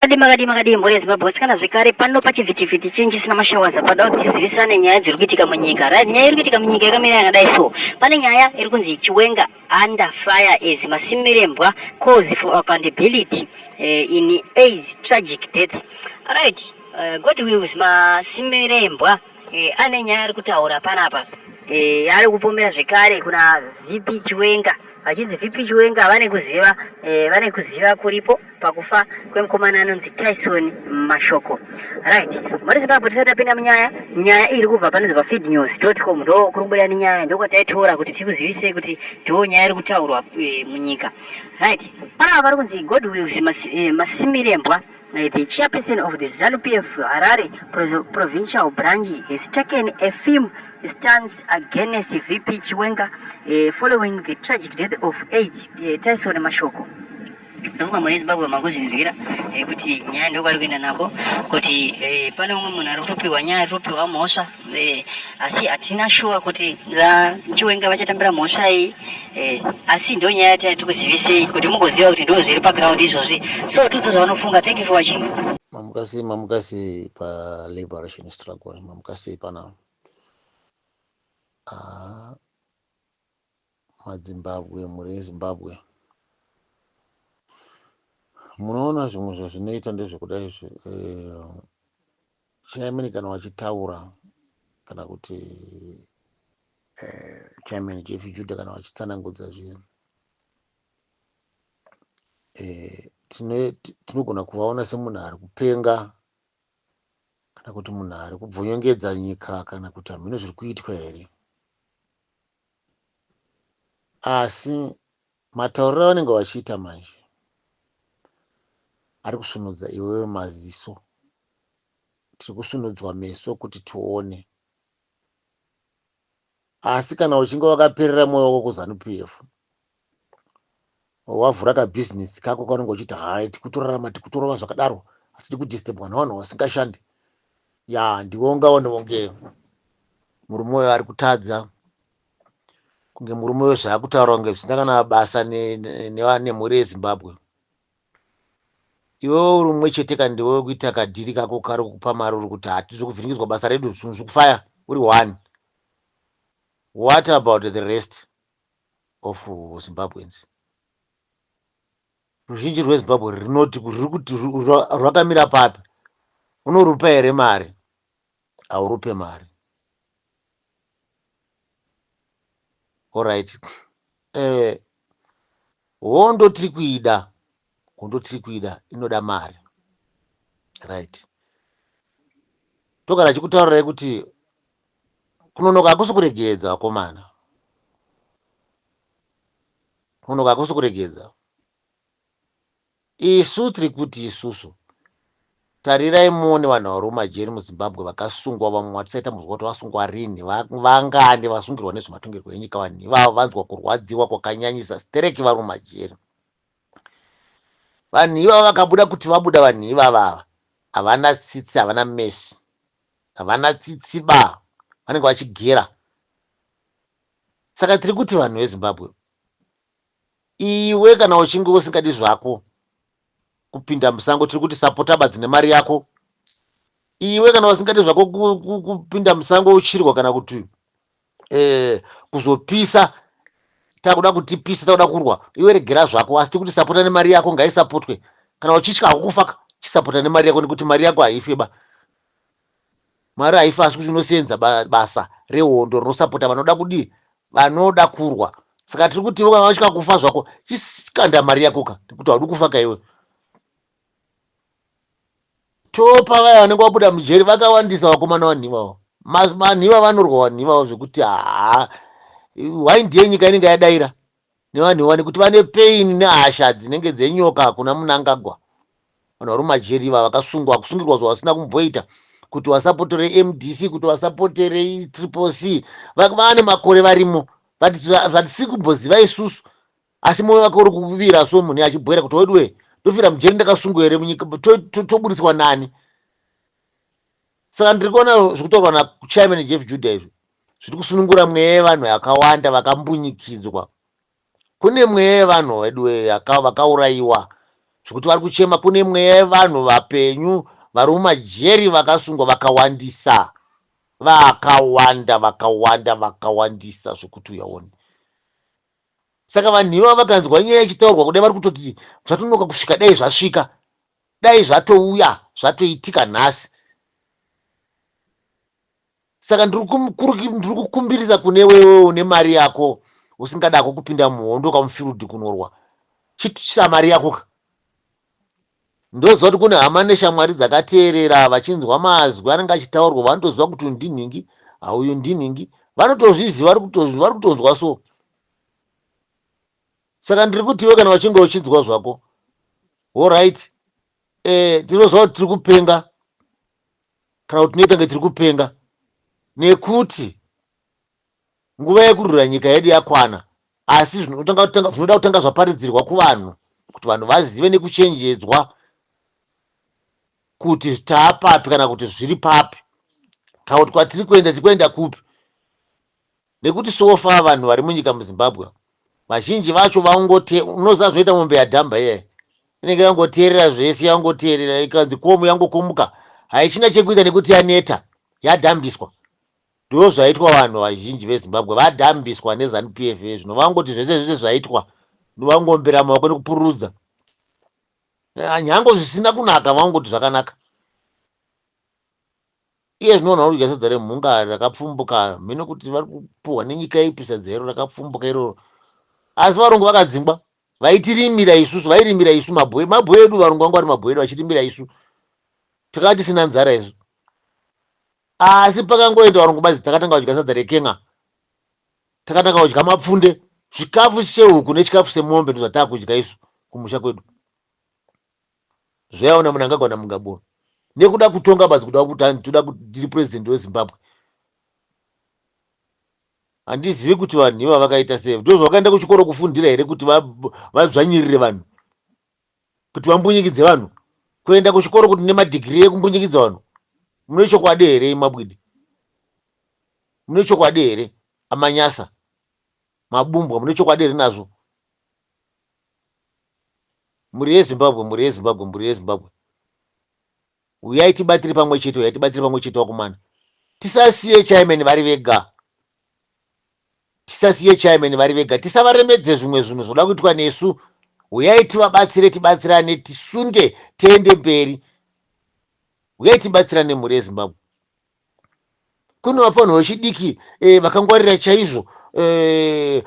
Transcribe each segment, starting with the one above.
Makadii makadii makadii mhuri yeZimbabwe wasikana zvekare pano pachivhitivhiti chinhu chisina mashawaza padawo tizivisane nyaya dziri kuitika munyika right nyaya iri kuitika munyika yakamira yakadai so pane nyaya iri kunzi chiwenga under fire as masimirembwa cause for accountability uh, in aids tragic death right uh, god wills masimirembwa e, ane nyaya ari kutaura panapa e, ari kupomera zvekare kuna vp chiwenga vachinzi vp chiwenga vane kuziva e, vane kuziva kuripo pakufa kwemukomana anonzi tyson mashoko right mari zimbabwe tisati tapinda munyaya nyaya iri kubva panonzi pafeed news com ndo kuri kubuda nenyaya ndokwataitora kuti tikuzivisei kuti ndiwo nyaya iri kutaurwa e, munyika right panava vari kunzi godwill masimirembwa Uh, the chairperson of the ZANU-PF Harare provincial branch has taken a firm stance against VP Chiwenga uh, following the tragic death of eight uh, Tyson Mashoko. ndokuba mune zimbabwe makuzvinzwira eh, kuti nyaya ndokwari kuenda nako kuti eh, pane umwe munhu ari kutopiwa nyaya ari kutopiwa mhosva Eh, asi hatina shuwa kuti vachiwenga vachatambira mhosva iyi eh, asi ndo nyaya yataya tikuzivisei kuti mugoziva kuti ndo zviri paground izvozvi so tudzo zvavanofunga thank you for watching mamukasei mamukasei paliberation struggle mamukasei pana ah, madzimbabwe mhuri yezimbabwe munoona zvimwe zvazvinoita ndezvekuda izvi eh, Chairman kana vachitaura kana kuti eh, Chairman Jeff Judah kana vachitsanangudza zvinhu eh, tinogona kuvaona semunhu ari kupenga kana kuti munhu ari kubvonyongedza nyika kana kuti hamhino zviri kuitwa here asi Matauriro avanenge vachiita manje ari kusvinudza iwewe maziso. Tiri kusvinudzwa meso kuti tione. Asi kana uchinge wakaperera mwoyo wako kuZanu PF, wavhura kabhizinesi kako kaunenge uchiita hai tikutorarama tikutorova zvakadaro hatidi kudisturbwa navanhu vasingashandi ya ndiwe ungaone kunge murume uyo ari kutadza kunge murume uyo zvaakutaura kunge zvisina kana basa nemhuri yezimbabwe iwe uri mumwe chete ka ndiwe wekuita kadhiri kako kari kukupa mari uri kuti hatizi kuvhiringidzwa basa redu zvinhu zvekufaya uri one what about the rest of zimbabweans ruzhinji rwezimbabwe rinoti riri kuti rwakamira papi unorupa here mari haurupe mari Alright. Eh, hondo tiri kuida, hondo tiri kuida inoda mari. Right. Togara chikutaurirai kuti kunonoka hakusi kuregedza vakomana. Kunonoka hakusi kuregedza. Isu tiri kuti isusu. Tarirai muone vanhu vari mumajeri muZimbabwe vakasungwa vamwe matisaita muzwa kuti vasungwa rinhi va, vangani vasungirwa nezvematongerwo enyika vanhu ivavo vanzwa kurwadziwa kwakanyanyisa stereki vari mumajeri. Vanhu ivavo vakabuda kuti vabuda vanhu ivava ava havana tsitsi havana mesi havana tsitsi ba vanenge vachigera saka tiri kuti vanhu veZimbabwe Iwe kana uchinge usingadi zvako kupinda musango tiri kuti sapota badzi nemari yako. Iwe kana usingadi zvako ku- ku- kupinda musango uchirwa kana kuti eh, kuzopisa takuda kutipisa takuda kurwa iwe regera zvako asi tiri kuti sapota nemari yako ngaisapotwe kana uchitya hako kufaka chisapota nemari yako nekuti mari yako haifeba Mwari haifi asi kuti unosenza basa rehondo rinosapota vanoda kudii vanoda kurwa saka tiri kuti iwe kana kufa zvako chisikanda mari yakoka nekuti haudi kufa ka iwe topa vaya vanenge vabuda mujeri vakawandisa vakomana vanhivawo manhiva vanorwa vanhivawo zvekuti haa why ndiye nyika inenge yadaira nevanhu ivani kuti vane pain nehasha dzinenge dzenyoka kuna munangagwa vanhu vari mumajeri iva vakasungwa kusungirwa zvavasina kumboita kuti vasapotere mdc kuti vasapotere triple c vane makore varimo zvatisiri kumboziva isusu asi moyo wake uri kuvira so munhu achibhoera kuti weduwe ndofira mujeri ndakasungwa here munyika toburitswa nani saka ndiri kuona zviri kutaurwa nachairman jeff juda izvi zviri kusunungura mweya yevanhu yakawanda vakambunyikidzwa. Kune mweya yevanhu veduwe yaka- vakaurayiwa zvekuti vari kuchema. Kune mweya yevanhu vapenyu vari mumajeri vakasungwa vakawandisa, vakawanda, vakawanda, vakawandisa zvekuti uyaone. Saka vanhu ivavo vakanzwa nyaya ichitaurwa kudai vari kutoti zvatonoka kusvika dai zvasvika, dai zvatouya, zvatoitika nhasi. saka ndiri kukumbirisa kune wewe une mari yako usingadako kupinda muhondo kamufield kunorwa chitisa mari yako ka ndoziva kuti kune hama neshamwari dzakateerera vachinzwa mazwi anenge achitaurwa vanotoziva kuti uyu ndinhingi auyu ndinhingi vanotozviziva vari kutonzwa so saka ndiri kutiwe kana vachinge uchinzwa zvako orit e, eh, tinoziva kuti tiri kupenga kana kuti tinoita kunge tiri kupenga nekuti nguva yekurwira nyika yedu yakwana asi zvinoda kutanga zvaparidzirwa kuvanhu kuti vanhu vazive nekuchenjedzwa kuti taapapi kana kuti zviri papi kana kuti kwatiri kuenda tiri kuenda kupi Nekuti so far vanhu vari munyika muZimbabwe vazhinji vacho vaungote unoziva zvinoita mombe yadhamba iyayi inenge yangoteerera zvese yangoteerera ikanzi komu yangokumuka haichina chekuita nekuti yaneta yadhambiswa ndoo zvaitwa vanhu vazhinji vezimbabwe vadhambiswa nezanu pf zvino vangoti zvese zvese zvaitwa ndovangombera maoko nekupururudza eh, nyango zvisina kunaka vangoti zvakanaka Iye zvino vanhu vari kudya sadza remhunga rakapfumbuka, hameno kuti vari kupuhwa nenyika ipi sadza iro rakapfumbuka iroro. Asi varungu vakadzingwa, vaitirimira isusu, vairimira isu mabwe, mabwe edu, varungu vanga vari mabwe edu, vachirimira isu, takanga tisina nzara isu. Asi pakangoenda varungu badzi, takatanga kudya sadza reken'a, takatanga kudya mapfunde, chikafu chehuku nechikafu semombe ndozvatakudya isu kumusha kwedu. zvayaona munangagwa namungaboro nekuda kutonga basi kuda kutani toda kuti ndiri president wezimbabwe handizivi kuti vanhu iva vakaita sei ndo zvavakaenda kuchikoro kufundira here kuti vadzvanyirire va, va vanhu kuti vambunyikidze vanhu kuenda kuchikoro kuti nemadhigiri ekumbunyikidza vanhu mune chokwadi here imabwidi mune chokwadi here amanyasa mabumbwa mune chokwadi here nazvo Mhuri yeZimbabwe, mhuri yeZimbabwe, mhuri yeZimbabwe, huyai tibatire pamwe chete, huyai tibatire pamwe chete wakomana. Tisasiye chairman vari vega, tisasiye chairman vari vega, tisavaremedze zvimwe zvinhu zvoda kuitwa nesu. Huyai tivabatsire, tibatsirane, tisunde, tiende mberi. Huyai tibatsirane mhuri yeZimbabwe. kune vafanirwa vechidiki eh, vakangwarira chaizvo eh,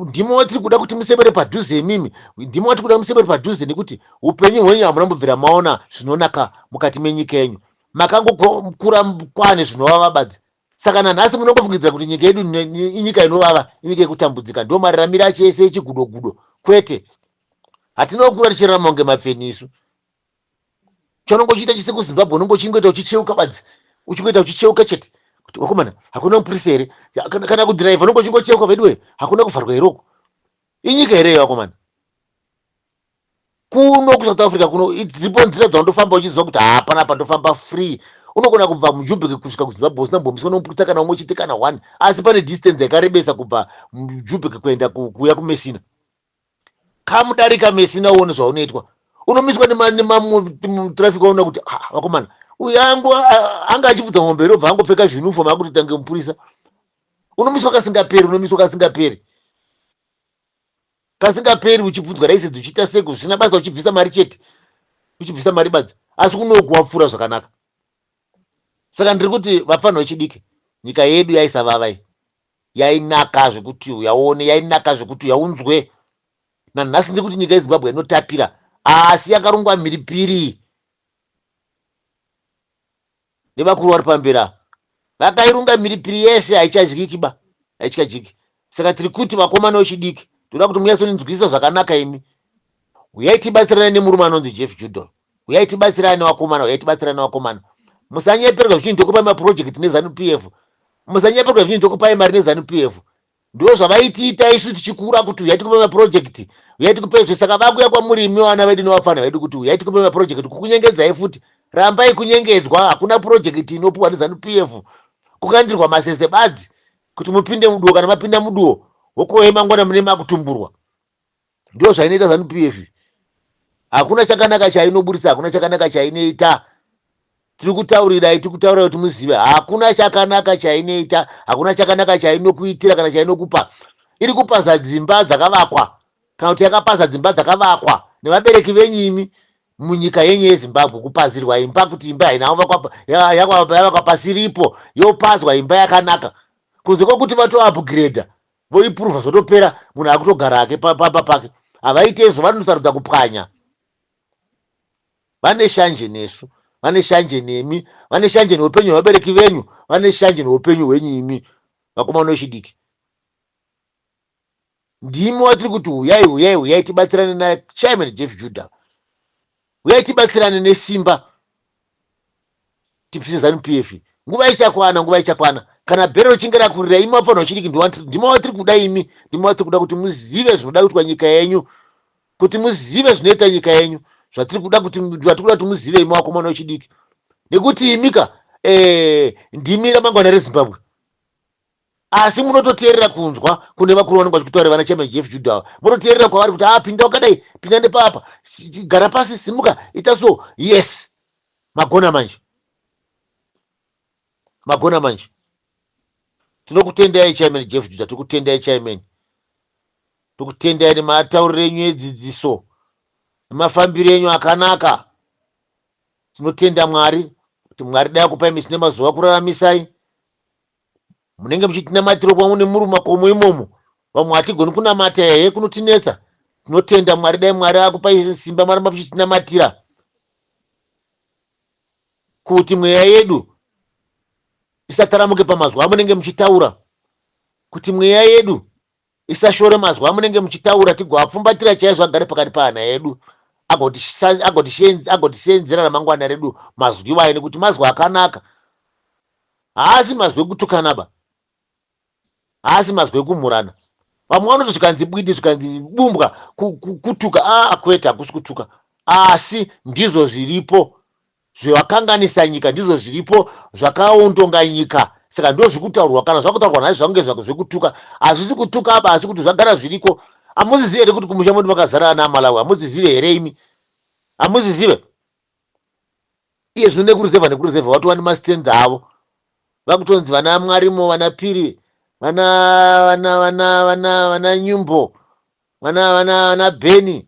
ndimo watiri kuda kuti musebere padhuze imimi ndimo watiri kuda musebere padhuze nekuti upenyu hwenyu hamuna mbobvira maona zvinonaka mukati menyika yenyu makangokura kwane zvinovava badzi saka nanhasi munongofungidzira kuti nyika yedu inyika inovava inyika yekutambudzika ndo mariramiro acho ese echigudogudo kwete hatinokura tichirarama kunge mapfeni isu chaunenge uchiita chese kuzimbabwe unenge uchingoita uchicheuka badzi uchingoita uchicheuka chete kuti vakomana hakuna mupurisa here kana kudhiraivha unenge uchingocheuka veduwe hakuna kuvharwa here uku inyika here iyo vakomana kuno kusouth africa kuno dzipo nzira dzaundofamba uchiziva kuti hapana apa ndofamba free unogona kubva mujubheki kusvika kuzimbabwe usina mbombiswa nomupurisa kana umwe chete kana one asi pane distance yakarebesa kubva mujubheki kuenda kuuya kumesina come darika mesina uone zvaunoitwa unomiswa nematraffic waona kuti ah, vakomana uyu angu anga achibvudza mombe robva angopfeka zvinufom akuti tange mupurisa unomiswa kasingaperi unomiswa kasingaperi kasingaperi uchibvunzwa raisedzi uchiita seko zvisina basa uchibvisa mari chete uchibvisa mari badzi asi kunokuwapfuura zvakanaka saka ndiri kuti vafanha vechidiki nyika yedu yaisavavai yainaka zvekuti uyaone yainaka zvekuti uyaunzwe nanhasi ndiri kuti nyika yezimbabwe inotapira asi yakarongwa mhiripiri nevakuru vari pambera vakairunga mhiripiri yese haichadyiki ba haichadyiki saka tiri kuti vakomana vechidiki toda kuti munyatsonzwisisa zvakanaka imi uyai tibatsirane nemurume anonzi jeff judol huyai tibatsirane vakomana huyai tibatsirane vakomana musanyeperwa zvichinzi ndokupai maproject nezanup f musanyeperwa zvichinzi ndokupai mari nezanup f ndo zvavaitiita isu tichikura kuti huyai tikupai maproject huyai tikupai zve saka vakuya kwamuri imi vana vedu nevafana vedu kuti huyai tikupai maproject kukunyengedzai futi rambai kunyengedzwa hakuna project inopiwa nezanu p f kukandirwa masese badzi kuti mupinde muduwo kana mapinda muduwo hokohe mangwana mune makutumburwa Ndiyo zvainoita zanu PF. Hakuna chakanaka chainoburitsa, hakuna chakanaka chainoita. Tiri kutaurirai, tiri kutaurirai kuti muzive. Hakuna chakanaka chainoita, hakuna chakanaka chainokuitira kana chainokupa. Iri kupaza dzimba dzakavakwa kana kuti yakapaza dzimba dzakavakwa nevabereki venyu imi munyika yenyu yeZimbabwe kupazirwa imba kuti imba haina kuvakwa ya- yakwa- yavakwa pasiripo yopazwa imba yakanaka kunze kwokuti vatoupgrade voipuruva zvotopera munhu akutogara hake pamba pake havaite izvo vanosarudza kupwanya vane shanje nesu vane shanje nemi vane shanje neupenyu hwevabereki venyu vane shanje neupenyu hwenyu imi vakomana vechidiki ndimi watiri kuti huyai huyai huyai tibatsirane nachairman jeff judah huyai tibatsirane nesimba tipise zanu pf nguva ichakwana nguva ichakwana kana bhero richinge rakurira imi wapfanha uchidiki ndimo watiri kuda imi ndimo watiri kuda kuti muzive zvinoda kuitwa nyika yenyu kuti muzive zvinoita nyika yenyu zvatiri kuda kuti vatiri kuda kuti muzive imi wakomana uchidiki nekuti imika eh, ndimi ramangwana rezimbabwe asi munototeerera kunzwa kune vakuru vanenge vachikutaura vana chairman jeff juda ava munoteerera kwavari kuti ah pinda wakadai pinda nepapa Si- gara pasi simuka ita so yes magona manje magona manje tinokutendai chairman jeff juda tikutendai chairman tikutendai nematauriro enyu edzidziso nemafambiro enyu akanaka tinotenda mwari kuti mwari dai akupai misi nemazuva kuraramisai munenge muchitinamatira pamwe nemuri mumakomo imomo vamwe hatigoni kunamata here kunotinetsa tinotenda mwari dai mwari akupai simba maramba muchitinamatira kuti mweya yedu isataramuke pamazuva amunenge muchitaura kuti mweya yedu Isashore mazwi amunenge muchitaura tigoapfumbatira chaizvo agare pakati pahana yedu agotisa- agotiseenz- agotiseenzera ramangwana redu mazwi iwayo nekuti mazwi akanaka haasi mazwi ekutukana ba haasi mazwi ekumhurana vamwe vanoti zvikanzi bwidi zvikanzi bumbwa ku- ku- kutuka aa kwete hakusi kutuka asi ndizvo zviripo Zvevakanganisa nyika ndizvo zviripo zvakaontonga nyika saka ndozvikutaurwa kana zvakutaurwa nhai zvange zvako zvekutuka hazvisi kutuka apa asi kuti zvagara zviriko amuzizive here kuti kumusha mwedu makazara ana amalawi amuzizive here imi amuzizive iye zvino nekuruzevha nekuruzevha vatova nemastenzi avo vakutonzi vana mwarimo vana piri vana vana vana vana vana nyumbo vana vana vana beni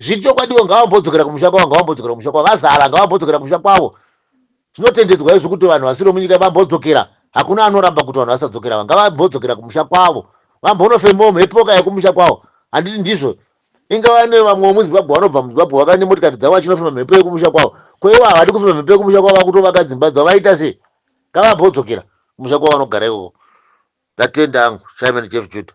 Zviri chokwadi ivo ngavambodzokera kumusha kwavo, ngavambodzokera kumusha kwavo. Vazala ngavambodzokera kumusha kwavo. Zvinotendedzwa izvi kuti vanhu vasiri vomunyika vambodzokera. Hakuna anoramba kuti vanhu vasadzokera ava. Ngavambodzokera kumusha kwavo. Vambonofembawo mhepo ka yokumusha kwavo. Handiti ndizvo? Ingava ane vamwe vomuZimbabwe vanobva muZimbabwe vave nemotokari dzavo vachinofema mhepo yokumusha kwavo. Ko ivo havadi kufema mhepo yokumusha kwavo vakutovaka dzimba dzavo vaita sei? Ngavambodzokera kumusha kwavo vanogara ikoko. Ndatenda hangu. Simon Jeff Judah.